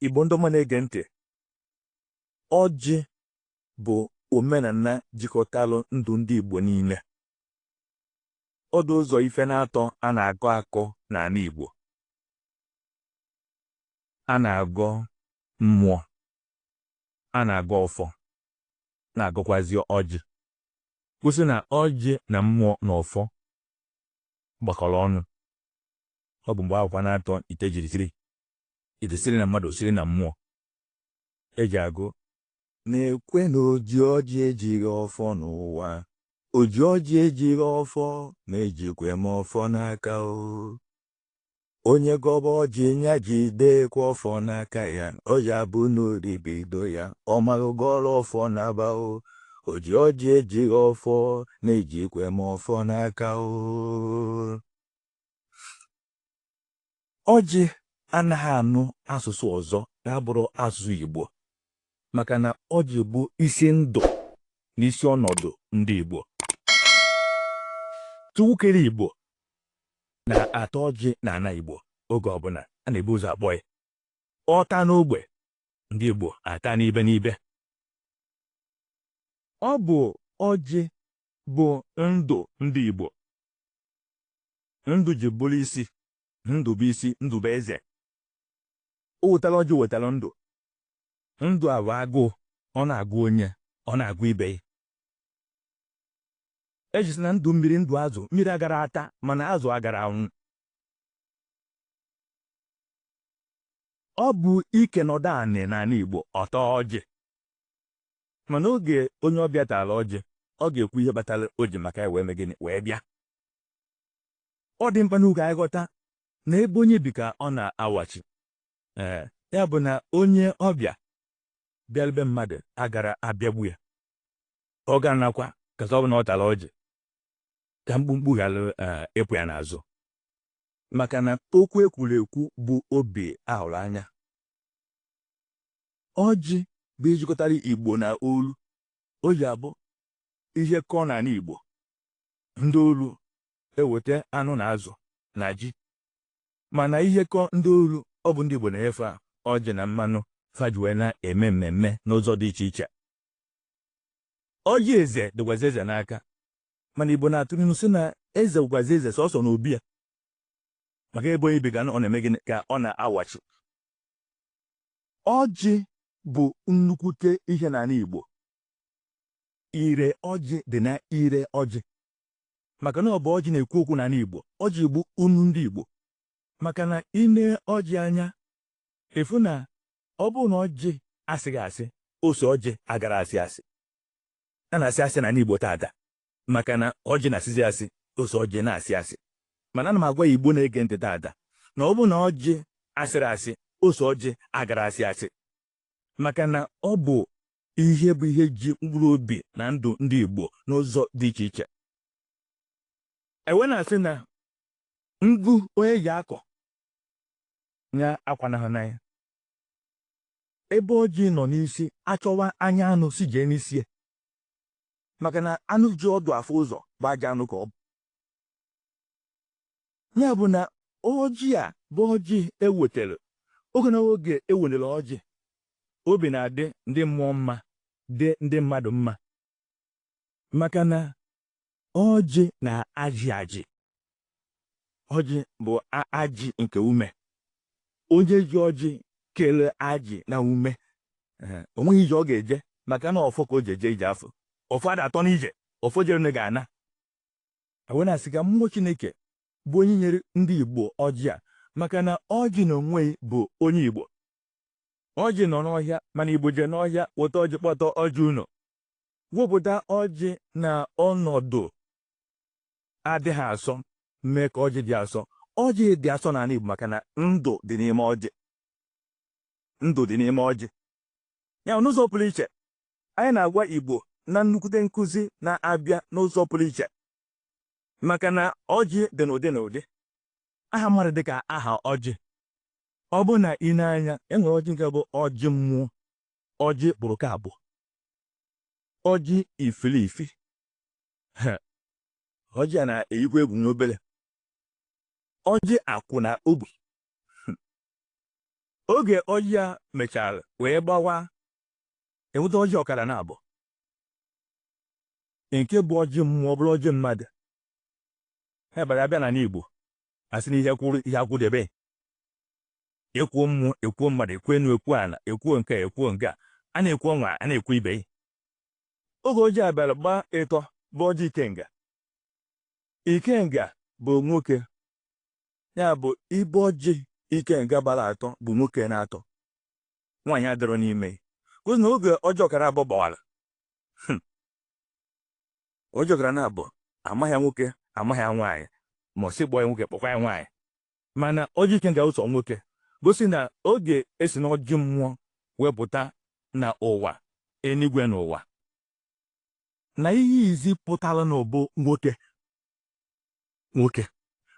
Igbo ndị ọma na-ege ntị, ọjị bụ omenala jikọtalụ ndụ ndị Igbo niile. Ọ dị ụzọ ife n'atọ a na-agọ agọ n'ala Igbo. A na-agọ mmụọ, a na-agọ ọfọ, na-agọkwazi ọjị. Kwusi na ọjị na mmụọ na ọfọ gbakọrọ ọnụ. Ọ bụ mgbe akwụkwa n'atọ ite jiri siri Ite siri na mmadụ siri na mmụọ e ji agụ na-ekwe na oji ọjị ejighị ọfọ n'ụwa oji ọjị ejighị ọfọ na ejikwe m ọfọ n'aka o onye gọba ọjị nya jidekwa ọfọ n'aka ya ọ ya bụ na oribido ya ọ maghị gọrọ ọfọ n'aba o oji ọjị ejighị ọfọ na ejikwe m ọfọ n'aka o Ọjị anaghị anụ asụsụ ọzọ na-abụrọ asụsụ Igbo maka na ọjị bụ isi ndụ na isi ọnọdụ ndị Igbo. Chukwu kere Igbo na-ata ọjị n'ala Igbo oge ọbụla a na-ebu ụzọ akpọ ya. Ọ taa n'ogbe, ndị Igbo ata n'ibe n'ibe. Ọ bụ ọjị bụ ndụ ndị Igbo. ndụ ji bụrụ isi ndụ bụ isi ndụ bụ eze o wetara ọjị wetara ndụ ndụ a bụ agụụ ọ na-agụ onye ọ na-agụ ibe ya e ji sị na ndụ mmiri ndụ azụ mmiri aghara ata mana azụ aghara anwụ ọ bụ ike nọdụ anị n'anị Igbo ọ taa ọjị Mana oge onye ọbịa taara ọjị, ọ ga-ekwu ihe kpatara o ji maka ya wee mee gịnị wee bịa. Ọ dị mkpa nụ ka anyị ghọta na ebe onye bi ka ọ na-awachi. Ee, ya bụ na onye ọbịa bịara be mmadụ aghara abịagbu ya. Ọ ga-anakwa ka ọ bụ na ọ tara ọjị ka mkpumkpu ghara ee ịpụ ya n'azụ. Maka na okwu e kwuru ekwu bụ obi a hụrụ anya. Ọjị bụ ihe jikọtara Igbo na olu. O ji abụ ihe kọọ n'ala Igbo, ndị olu eweta anụ na azụ na ji. Mana ihe kọọ ndị olu, ọ bụ ndị Igbo na-enye fa ọjị na mmanụ fa ji wee na-eme mmemme n'ụzọ dị iche iche. Ọjị eze dịkwazi eze n'aka. Mana Igbo na-atụ n'ilu sị na eze bụkwazi eze sọsọ n'obi ya. Maka ebe onye bi ka ọ na-eme gịnị ka ọ na-awachi. Ọjị bụ nnukwute ihe n'ana Igbo. Ire ọjị dị na ire ọjị maka na ọ bụ ọjị na-ekwu okwu n'ana Igbo. Ọjị bụ unu ndị Igbo maka na ị ne ọjị anya ị fụ na ọ bụrụ na ọjị asịghị asị ose ọjị agara asị asị a na-asị asị n'ana Igbo taata maka na ọjị na-asịzi asị ose ọjị na-asị asị mana ana m agwa ya Igbo na-ege ntị taata na ọ bụrụ na ọjị asịghị asị ose ọjị agara asị asị maka na ọ bụ ihe bụ ihe ji mkpụrụ obi na ndụ ndị Igbo n'ụzọ dị iche iche e wee na-asị na ngụ onye ji akọ ya akwanahụna ya ebe ọjị nọ n'isi a chọwa anya anụ sị jee n'isi ya maka na anụ ji ọdụ afụ ụzọ bụ ajọ anụ ka ọ bụ ya bụ na ọjị a bụ ọjị ewetara oge na oge ewenere ọjị obi na-adị ndị mmụọ mma dị ndị mmadụ mma maka na Ọjị na-ajị ajị. Ọjị bụ ajị nke ume. Onye ji ọjị kelee ajị na ume, o nweghị ije ọ ga-eje maka na ọfọ ka o ji eje ije afọ. Ọfọ ada atọ n'ije, ọfọ jerene ga-ana. E wee na-asị ka mmụọ Chineke bụ onye nyere ndị Igbo ọjị a maka na ọjị na onwe ya bụ onye Igbo. Ọjị nọ n'ọhịa mana Igbo jee n'ọhịa weta ọjị kpọta ọjị ụnọ. wepụta ọjị na ọnọdụ adịghị asọ mee ka ọjị dị asọ ọjị dị asọ n'ana Igbo maka na ndụ dị n'ime ọjị ndụ dị n'ime ọjị ya n'ụzọ pụrụ iche anyị na-agwa Igbo na nnukwute nkụzi na-abịa n'ụzọ pụrụ iche maka na ọjị dị n'ụdị na ụdị aha mmadụ dị ka aha ọjị ọ bụrụ na ị nee anya e nwere ọjị nke bụ ọjị mmụọ ọjị kpụrụ ka abụ ọjị ifilifi ọjị a na-eyikwa egwu n'obere ọjị akwụ na ogbi oge ọjị a mechara wee gbawa e nweta ọjị ọkara na abụọ nke bụ ọjị mmụọ bụrụ ọjị mmadụ ha bara abịa n'ana Igbo a sị na ihe kwụrụ ihe akwụdebe ekwuo mmụọ ekwuo mmadụ ekwuo enu ekwuo ana ekwuo nke a ekwuo nke a a na-ekwu ọnwa a na-ekwu ibe ya oge ọjị a bịara gbaa ịtọ bụ ọjị ikenga ikenga bụ nwoke ya bụ ibe ọjị ikenga gbara atọ bụ nwoke na-atọ nwaanyị adịrọ n'ime kụzi na oge ọjị ọkara abụọ gbawara hmm. ọjị ọkara na abụọ amaghị ya nwoke amaghị ya nwaanyị ma ọ sị kpọọ ya nwoke kpọkwa ya nwaanyị mana ọjị ikenga ụzọ nwoke gosi na oge esi n'ọjị mmụọ wepụta na ụwa enigwe na ụwa na ihe izizi pụtara na ụwa bụ nwoke nwoke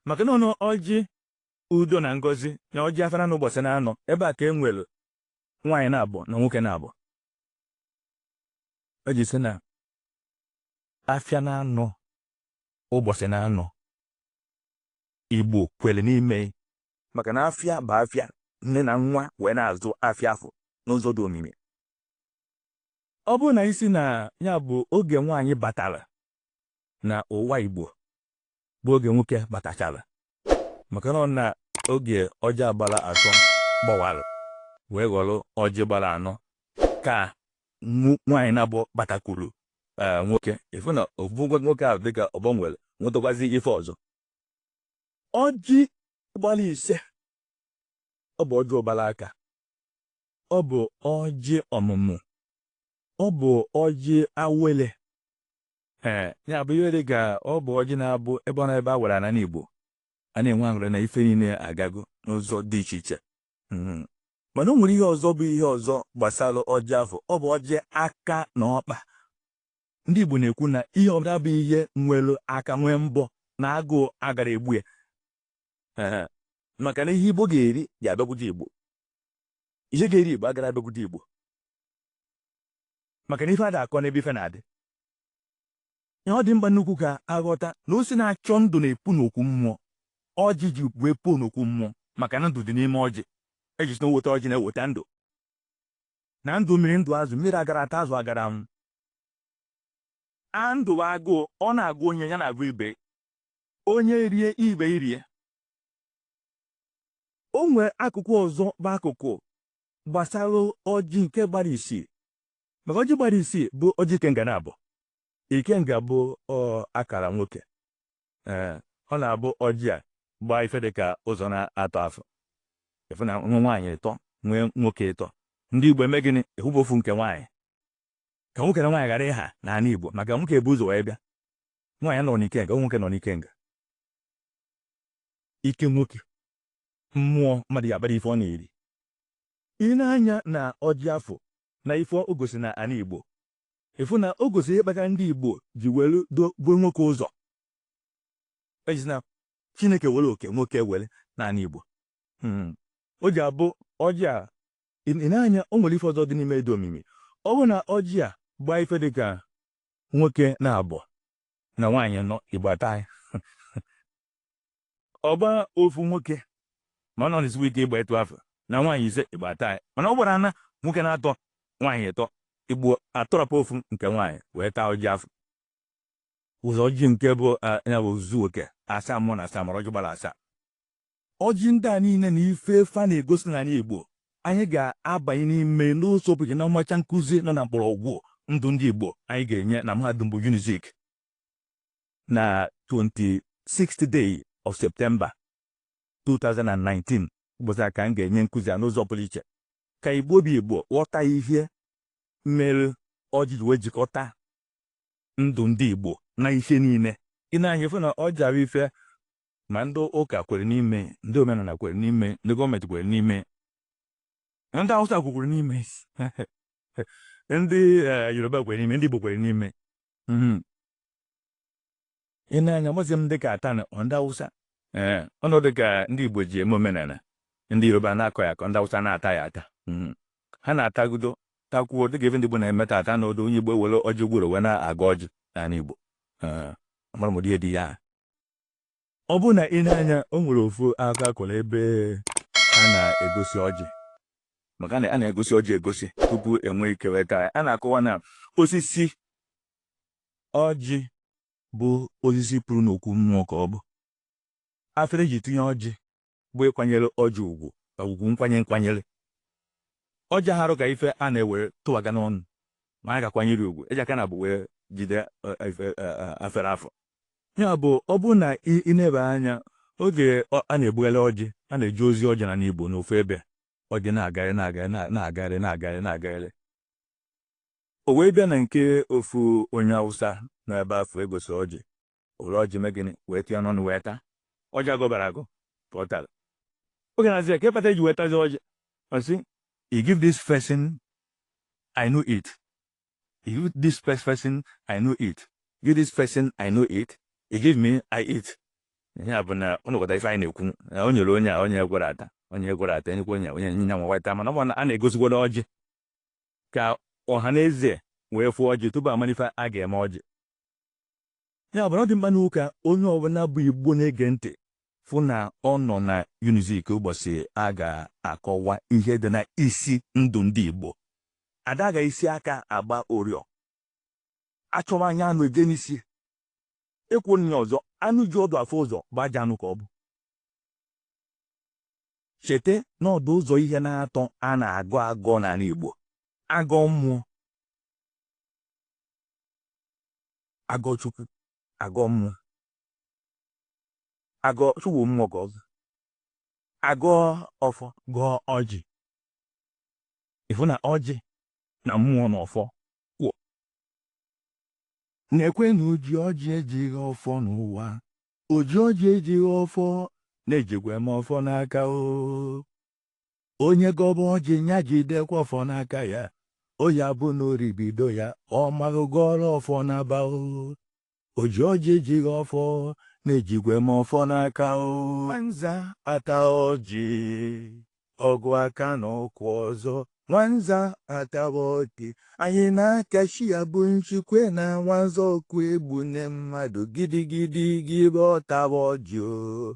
maka na ọjị udo na ngozi na ọjị afịa na anọ ụbọchị na anọ ebe a ka e nwere nwaanyị naabọ na nwoke naabọ o ji sị na afịa na anọ ụbọchị na anọ Igbo kwere n'ime maka na afịa bụ afịa nne na nwa wee na-azụ afịa afụ n'ụzọ dị omimi ọ bụrụ na ị sị na ya bụ oge nwaanyị batara na ụwa Igbo bụ oge nwoke batachara maka na ọ na oge ọjị a gbara atọ gbawara wee ghọrọ ọjị gbara anọ ka nwaanyị naabọ batakwuru ee nwoke ị fụ na ofu nwoke ahụ dịka ọ gbanwere nwetakwazi ife ọzọ ọjị gbara ise ọ bụ ọjị ụbara aka ọ bụ ọjị ọmụmụ ọ bụ ọjị awele ee ya bụ ihe dịka ọ bụ ọjị na-abụ ebe ọ na ebe a wara ya n'anị Igbo a na-enwe aṅụrị na ife niile agago n'ụzọ dị iche iche Hmm. mana o nwere ihe ọzọ bụ ihe ọzọ gbasara ọjị afụ ọ bụ ọjị aka na ọkpa ndị Igbo na-ekwu na ihe ọbụla bụ ihe nwere aka nwee mbọ na agụụ agara egbu ya maka na ihe Igbo ga-eri ga-abịakwute Igbo ihe ga-eri Igbo agara abịakwute Igbo maka na ife ada akọ n'ebe ife na-adị Ihe ọ dị mkpa nnukwu ka a ghọta na osisi na-achọ ndụ na-epu n'okwu mmụọ. Ọjị ji wee puo n'okwu mmụọ maka na ndụ dị n'ime ọjị. E ji sị na o weta ọjị na-eweta ndụ. Na ndụ mmiri ndụ azụ, mmiri agara ata azụ agara anwụ. A ndụ bụ agụụ, ọ na-agụ onye ya na-agụ ibe. Onye rie ibe erie. O nwere akụkụ ọzọ bụ akụkụ gbasara ọjị nke gbara isii. Maka ọjị gbara isii bụ ọjị ikenga naabọ. Ikenga bụ ọ akara nwoke. Ee, ọ na-abụ ọjị a gbaa ife dị ka ụzọ naatọ afụ. Ị fụ na e nwee nwaanyị ịtọ nwee nwoke ịtọ. Ndị Igbo eme gịnị? Ewepụ ofu nke nwaanyị. Ka nwoke na nwaanyị ghara ịha n'ala Igbo maka nwoke bu ụzọ wee bịa. Nwaanyị anọrọ n'ikenga, nwoke nọ n'ikenga. Ike nwoke, mmụọ mmadụ ya abara ife ọ na-eri. Ị nee anya na ọjị afụ na ife o gosi na ana Igbo, ị fụ na o gosi ihe kpatara ndị Igbo ji were dobe nwoke ụzọ. E ji na Chineke were oke nwoke were n'ala Igbo. O ji abụ ọjị a, ị nee anya o nwere ife ọzọ dị n'ime dị omimi. Ọ bụrụ na ọjị a gbaa ife dị ka nwoke naabọ na nwaanyị ịnọ, Igbo ataa ya. ọ gba ofu nwoke ma ọ na-esiwe ike ịgba etu afụ na nwaanyị ise igbo ata ya mana ọ gbara na nwoke naatọ nwaanyị ịtọ igbo atọrọpụ ofu nke nwaanyị wee taa ọjị afụ ụzọ ọjị nke bụ ya bụ ozuzu oke asaa mmụọ na asaa mmadụ ọjị gbara asaa ọjị ndị a niile na ife fa na-egosi n'ala igbo anyị ga-abanye n'ime n'ụzọ pụrụ na mmacha nkụzi nọ na mgbọrọgwụ ndụ ndị igbo anyị ga-enye na mahadum bụ unizik na 26th day of September 2019 ụbọchị a ka m ga-enye nkụzi a n'ụzọ pụrụ iche ka igbo bụ igbo ghọta ihe mere ọjị ji wee jikọta ndụ ndị igbo na ihe niile i nee anya ị fụ na ọjị bụ ife ma ndị ụka kwere n'ime ndị omenala kwere n'ime ndị gọọmenti kwere n'ime ndị awụsa kwukwere n'ime ndị eh, yoruba kwere n'ime ndị igbo kwere n'ime mhm. i nee anya mazi m dịka atani ọ ndị awụsa ee ọ na-adị ka ndị igbo ji eme omenala ndị yoruba na-akọ ya akọ ndị awụsa na-ata ya ata mhm. ha na-atagudo takwuo dịka ebe ndị igbo na-eme ta ata n'ọdụ onye igbo ewere ọjị gworo wee na-agọ ọjị n'ala igbo amara m ụdị ya dị ya Ọ bụrụ na i nee anya, o nwere ofu akụkọ a kọrọ ebe a na-egosi ọjị. Maka na a na-egosi ọjị egosi tupu e nwee ike wee taa ya. A na-akọwa na osisi ọjị bụ osisi puru n'okwu mmụọ ka ọ bụ. Afere e ji tinye ọjị bụ ịkwanyere ọjị ugwu ka ugwu nkwanye nkwanyere ọjị harụ ka ife a na-ewere tụwaga n'ọnụ ma a ga-akwanyere ugwu e ji aka naabọ wee jide afere afụ ya bụ ọ bụrụ na i neba anya oge a na-ebugharị ọjị a na-eje ozi ọjị n'ana Igbo n'ofu ebe ọjị na-agagharị na-agagharị na-agagharị na-agagharị na-agagharị o wee bịa na nke ofu onye Awụsa nọ ebe afụ egosi ọjị o were ọjị me gịnị wee tụọ ya n'ọnụ wee taa ọjị a gọbarọ agọ ka ọ tara oge na-asị ya ka ịkpata i ji wee tazi ọjị ọ sị you give this person e no eat you give this first person e no eat give this person e no eat you give me i eat ya bụ na ọ nọkọta ife anyị na-ekwu na o nyere onye a onye gwara ata onye gwara ata enyekwa onye o nye ya nwa wee taa mana ọ bụ na a na-egosikwara ọjị ka ọha na eze wee fụ ọjị tupu a mara ife a ga-eme ọjị Ya bụ na ọ dị mkpa nnukwu ka onye ọbụla bụ Igbo na-ege ntị fụ na ọ nọ na Unizik ụbọchị a ga-akọwa ihe dị na isi ndụ ndị Igbo. Ada agha isi aka agba ụrịọ. Achọwa anya anụ eje n'isi. E kwuo n'inu ọzọ, anụ ji ọdụ afụ ụzọ bụ ajọ anụ ka ọ bụ. Cheta na ọ dụ ụzọ ihe naatọ a na-agọ agọ n'ala Igbo. Agọ mmụọ, agọ chukwu agọ mmụọ agọ chukwu mmụọ gọ ọzọ agọ ọfọ gọọ ọjị ị fụ na ọjị na mmụọ na ọfọ kwụ na-ekwe na oji ọjị ejighị ọfọ n'ụwa oji ọjị ejighị ọfọ na-ejikwa m ọfọ n'aka o Onye gọba ọjị nya jidekwa ọfọ n'aka ya, o ya bụ na o ribido ya, ọ maghị gọọrọ ọfọ n'aba o. Oji ọjị ejighị ọfọ na-ejikwa m ọfọ n'aka o. Nwanza ata ọjị, ọgụ aka na ụkwụ ọzọ. Nwanza atawa ọjị, anyị na-akachi ya bụ nchikwe na nwanza ọkụ egbune mmadụ gidigidi gị bụ ọtawa ọjị o.